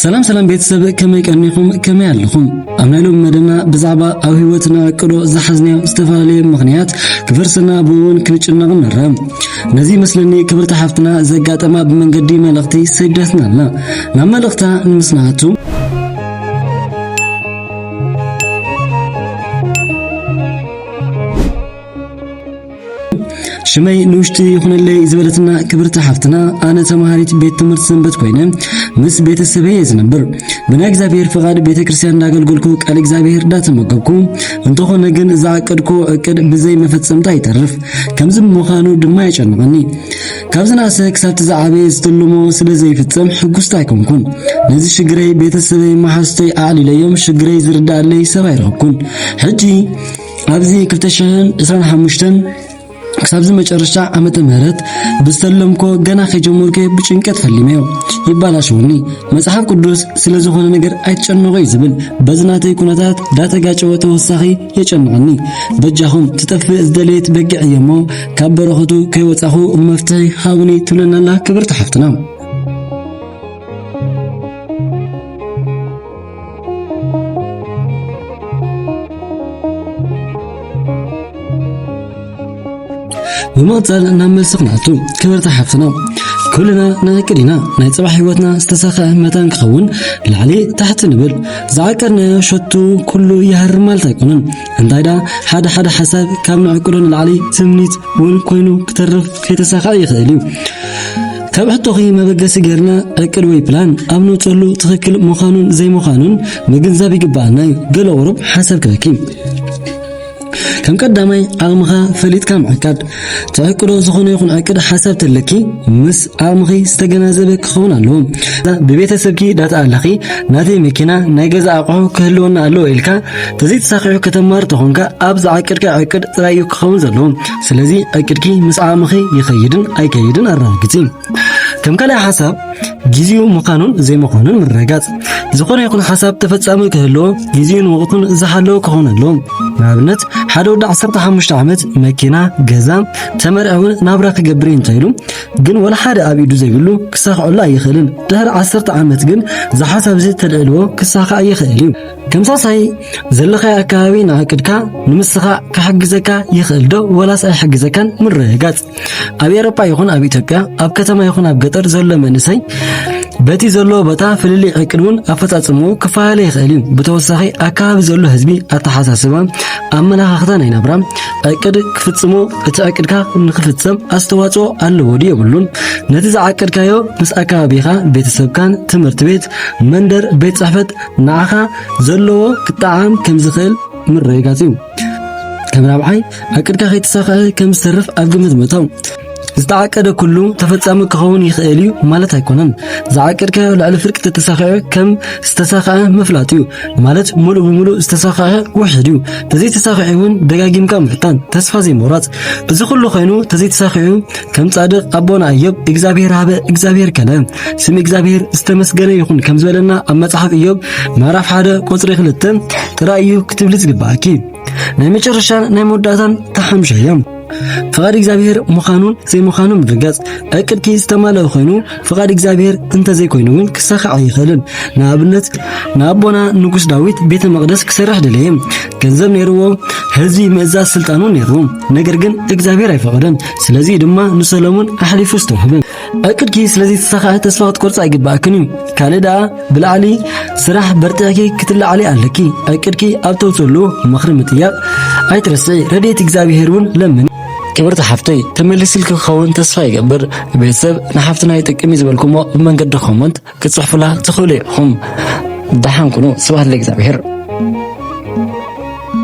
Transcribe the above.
ሰላም ሰላም ቤተሰብ ከመይ ቀኒኹም ከመይ ኣለኹም ኣብ ናይ ሎሚ መደብና ብዛዕባ ኣብ ህይወትና ቅዶ ዝሓዝናዮ ዝተፈላለየ ምኽንያት ክፈርስና ብእውን ክንጭነቕ ንርአ ነዚ ይመስለኒ ክብርቲ ሓፍትና ዘጋጠማ ብመንገዲ መልእኽቲ ሰደትና ኣላ ናብ መልእኽታ ንምስናቱ ሽመይ ንውሽጢ ይኹነለይ ዝበለትና ክብርቲ ሓፍትና ኣነ ተምሃሪት ቤት ትምህርቲ ሰንበት ኮይነ ምስ ቤተሰበይ እየ ዝነብር ብናይ እግዚኣብሔር ፍቓድ ቤተ ክርስቲያን እንዳገልገልኩ ቃል እግዚኣብሔር እንዳተመገብኩ እንተኾነ ግን ዝዓቀድኩ እቅድ ብዘይ መፈጸምታ ይተርፍ ከምዚ ምዃኑ ድማ የጨንቐኒ ካብ ዝናእሰ ክሳብቲ ዝዓበየ ዝተልሞ ስለ ዘይፍጸም ሕጉስቲ ኣይኮንኩን ነዚ ሽግረይ ቤተሰበይ መሓዝተይ ኣዕሊለዮም ሽግረይ ዝርዳእለይ ሰብ ኣይረኽብኩን ሕጂ ኣብዚ 2025 ክሳብዚ መጨረሻ ዓመተ ምህረት ብዝተለምኮ ገና ከጀመርኩ ብጭንቀት ፈሊመዮ ይባላሸውኒ መጽሓፍ ቅዱስ ስለ ዝኾነ ነገር ኣይትጨነቑ እዩ ዝብል በዚ ናተይ ኩነታት ዳተጋጨወ ተወሳኺ የጨንቐኒ በጃኹም ትጠፍእ ዝደለየት በጊዕ እየሞ ካብ በረኸቱ ከይወጻኹ መፍትሒ ሃቡኒ ትብለናላ ክብርቲ ሓፍትና ብምቕፃል ናብ መልሲ ክንኣቱ ክብርቲ ሓፍትና ኩልና ንእቅድ ኢና ናይ ፅባሕ ህይወትና ዝተሳኸዐ መታን ክኸውን ላዕሊ ታሕቲ ንብል ዝዓቀድናዮ ሸቱ ኩሉ ይሃርም ማለት ኣይኮነን እንታይ ደኣ ሓደ ሓደ ሓሳብ ካብ ንዕቅዶ ንላዕሊ ትምኒት እውን ኮይኑ ክተርፍ ከይተሳኸዐ ይኽእል እዩ ካብ ሕቶኺ መበገሲ ጌርና ዕቅድ ወይ ፕላን ኣብ ነውፀሉ ትኽክል ምዃኑን ዘይምዃኑን ምግንዛብ ይግባኣና እዩ ገለ ቁሩብ ሓሳብ ክበኪ ከም ቀዳማይ ዓቕምኻ ፈሊጥካ ምዕቃድ ተዕቅዶ ዝኾነ ይኹን ዕቅድ ሓሳብ ተለኪ ምስ ዓቕምኺ ዝተገናዘበ ክኸውን ኣለዎ ብቤተሰብኪ ዳታ ኣለኺ ናተይ መኪና ናይ ገዛ ኣቑሑ ክህልወና ኣለዎ ኢልካ ተዘይተሳኺዑ ከተማር ተኾንካ ኣብ ዝዓቅድካ ዕቅድ ጥራይ እዩ ክኸውን ዘለዎ ስለዚ ዕቅድኪ ምስ ዓቕምኺ ይኸይድን ኣይከይድን ኣረጋግጺ። ከም ካልእ ሓሳብ ግዜኡ ምዃኑን ዘይምዃኑን ምርግጋጽ። ዝኾነ ይኹን ሓሳብ ተፈጻሚ ክህልዎ ግዜኡን ወቕቱን ዝሓለወ ክኸውን ኣለዎ። ንኣብነት ሓደ ወዲ 15 ዓመት መኪና፣ ገዛ፣ ተመርዒ እውን ናብራ ክገብር እንተኢሉ ግን ወላ ሓደ ኣብ ኢዱ ዘይብሉ ክሳኽዐሉ ኣይኽእልን። ድሕሪ ዓሰርተ ዓመት ግን ዝሓሳብ እዚ ተልዕልዎ ክሳኻዕ ይኽእል እዩ። ተምሳሳይ ዘለኻዮ ኣከባቢ ንኣቅድካ ንምስኻ ክሕግዘካ ይኽእል ዶ ወላስ ኣይሕግዘካን ምርግጋጽ። ኣብ ኤሮፓ ይኹን ኣብ ኢትዮጵያ ኣብ ከተማ ይኹን ኣብ ገጠር ዘሎ መንእሰይ በቲ ዘለዎ ቦታ ፍልልይ ዕቅድ እውን ኣፈጻጽምኡ ክፈላለ ይኽእል እዩ። ብተወሳኺ ኣከባቢ ዘሎ ህዝቢ ኣተሓሳስባ፣ ኣመለኻኽታ ናይ ናብራ ዕቅድ ክፍጽሞ እቲ ዕቅድካ ንክፍጸም ኣስተዋጽኦ ኣለዎ ድዩ የብሉን? ነቲ ዝዓቀድካዮ ምስ ኣከባቢኻ፣ ቤተሰብካን፣ ትምህርቲ ቤት፣ መንደር፣ ቤት ጽሕፈት ንኣኻ ዘለዎ ክጠዓም ከም ዝኽእል ምርግጋጽ እዩ። ከም ራብዓይ ዕቅድካ ከይተሳኽዐ ከም ዝተርፍ ኣብ ግምት ምእታው ዝተዓቀደ ኩሉ ተፈጻሚ ክኸውን ይኽእል እዩ ማለት ኣይኮነን። ዝዓቀድካዮ ልዕሊ ፍርቂ ተተሳኺዑ ከም ዝተሳኽዐ ምፍላጥ እዩ ማለት ሙሉእ ብሙሉእ ዝተሳኽዐ ውሕድ እዩ። ተዘይተሳኺዑ እውን ደጋጊምካ ምፍታን፣ ተስፋ ዘይምቑራጽ። እዚ ኩሉ ኮይኑ ተዘይተሳኺዑ ከም ጻድቕ ኣቦና ኢዮብ እግዚኣብሔር ሃበ እግዚኣብሔር ከለ ስም እግዚኣብሔር ዝተመስገነ ይኹን ከም ዝበለና ኣብ መጽሓፍ ኢዮብ ምዕራፍ 1 ቁጽሪ 2 ጥራይ እዩ ክትብሊ ዝግባኣኪ ናይ መጨረሻን ናይ መወዳእታን ተሓምሸ እዮም ፍቓድ እግዚኣብሔር ምዃኑን ዘይምዃኑ ምርጋጽ ዕቅድኪ ዝተማለአ ኮይኑ ፍቓድ እግዚኣብሔር እንተዘይኮይኑ እውን ክሳኻዕ ኣይኽእልን ንኣብነት ንኣቦና ንጉስ ዳዊት ቤተ መቕደስ ክሰርሕ ደለየ ገንዘብ ነይርዎ ህዝቢ ምእዛዝ ስልጣኑ ነይሩ ነገር ግን እግዚኣብሔር ኣይፈቐደን። ስለዚ ድማ ንሰሎሞን ኣሕሊፉ ዝተውህበ ዕቅድኪ ስለዚ ተሳኻዐ ተስፋ ክትቆርጻ ኣይግባእክን እዩ። ካልእ ደኣ ብላዕሊ ስራሕ በርትዕኪ ክትላዓሊ ኣለኪ። ዕቅድኪ ኣብ ተውፅሉ ምኽሪ ምጥያቕ ኣይትረስዒ። ረድኤት እግዚኣብሔር እውን ለምኒ። ክብርቲ ሓፍተይ ተመሊስልኪ ክኸውን ተስፋ ይገብር። ቤተሰብ ንሓፍትና ይጠቅም እዩ ዝበልኩሞ ብመንገዲ ኮመንት ክጽሕፉላ ትኽእሉ ኢኹም። ደሓን ኩኑ። ስብሐት ለእግዚኣብሔር።